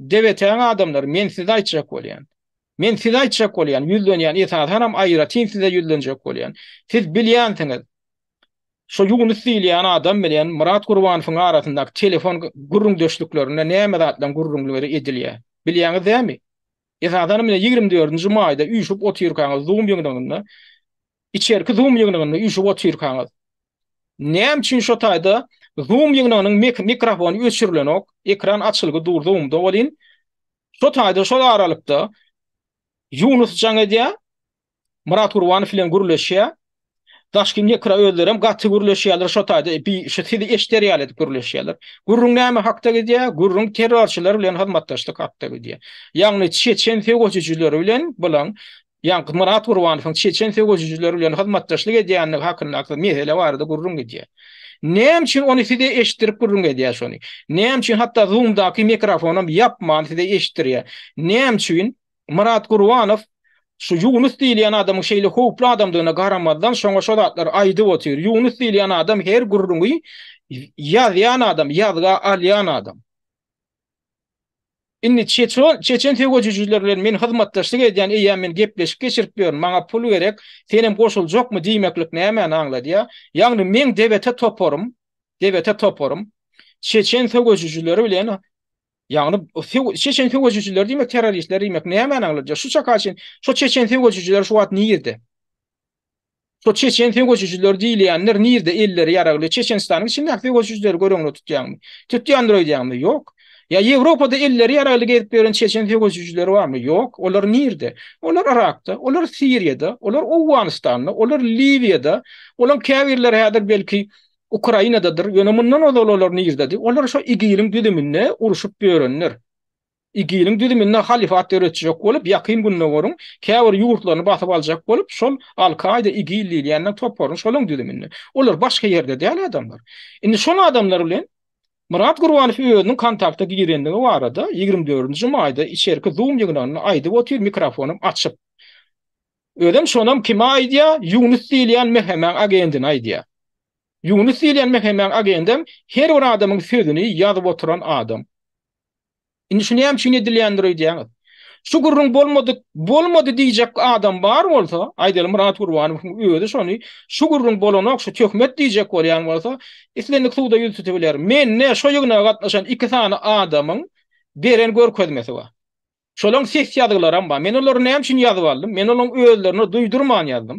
DWT-niň adamlary, men size aýtjak bolýan. Men size aýtjak bolýan, ýüzlenýän, esasanam aýratyn size ýüzlenjek bolýan. Siz bilýänsiňiz, şo Ýunus diýilýän adam bilen Myrat Gurbanowyň arasyndaky telefon gürrüňdeşliklerinde näme zatlaryň gürrüňleri edilýär. Bilýäňiz dämi? Esasanam ine ýigrimi dördünji maýda üýşüp otyrkaňyz zoom ýygnagynda, içerki zoom ýygnagynda üýşüp otyrkaňyz, Näme üçin şo taýda Zoom ýygnagynyň mikrofony öçürilenok, ekran açylgy dur Zoomda welin şo taýda şol aralykda Ýunus jaň edýär, Myrat Gurbanow bilen gürleşýär. Daşky mikro özlerem gaty gürleşýärler şo taýda bi şu sizi eşder ýaly edip gürleşýärler. Gürrüň näme hakda gidýär? Gürrüň terrorçylar bilen hyzmatdaşlyk hakda gidýär. Ýagny çeçen söweşijileri bilen bilen Ýaňky Myrat Gurbanowyň çeçen söweşijileri bilen hyzmatdaşlyk edýändigi hakyndaky mesele barada gürrüň gidýär. Näme üçin ony size eşitdirip gürrüň edýär şony? Näme üçin hatda Zoomdaky mikrofonam ýapman size eşitdirýär? Näme üçin Myrat Gurbanow şu Ýunus diýilýän adamyň şeýle howply adamdygyna garamazdan şoňa şo zatlary aýdyp otyr? Ýunus diýilýän adam her gürrüňi ýazýan adam, ýazga alýan adam. Indi çeçen söwejijiler bilen men hyzmatdaşlyk edýän, eýýäm men gepleşik geçirip ýörün, maňa pul gerek, senem goşuljakmy diýmeklik nämäni aňladýar? Ýagny meň DBT toparym, DBT toparym çeçen söwejijileri bilen, ýagny çeçen söwejijileri diýmek terroristler diýmek nämäni aňladýar? Şu çaka çenli şo çeçen söwejijiler şu wagt nirde? Şo çeçen söweşijiler diýilýänler nirde elleri ýaragly çeçenistanyň içindäki söweşijileri göz öňüne tutýaňmy? Tutýandyr öýdýäňmi? Ýok. Ýa Ýewropada elleri ýaragly gezip ýören çeçen söweşijileri barmy? Ýok. Olar nirde? Olar Yrakda, olar Siriýada, olar Owganystanda, olar Liwiýada, olaň käbirleri häzir belki Ukrainadadyr, ýöne mundan ozal olar nirdedi? Olar şo igiliň düzüminde urşup ýörenler. IGIL-iň düzüminde halyfat döretjek bolup, Ýakyn Gündogaryň käbir ýurtlaryny basyp aljak bolup, şol Al-Kaýda, IGIL diýilýänler toparyň şolaryň düzüminde. Olar başga ýerde däl adamlar. Indi şol adamlar bilen Myrat Gurbanow özüniň kontakta girendigi barada ýigrimi dördünji maýda içerki Zoom ýygnagynda aýdyp otyr mikrofonym açyk. Özem şonam kimi aýdýar, Ýunus diýilýän MHM-iň agendini aýdýar. Ýunus diýilýän MHM-iň agendem her bir adamyň sözüni ýazyp oturan adam. Indi şu näme üçin edilýändir öýdýäňiz? Şu gürrüň bolmadyk, bolmady diýjek adam bar bolsa, aýdaly Myrat Gurbanowyň özi şony şu gürrüň bolanok, şu töhmet diýjek bolýan bolsa, islendik suwda ýüz tutup biler. Mende şo ýygnaga gatnaşan iki sany adamyň beren görkezmesi bar. Şolaň ses ýazgylaram bar. Men olary näme üçin ýazyp aldym? Men olaň özlerine duýdurman ýazdym.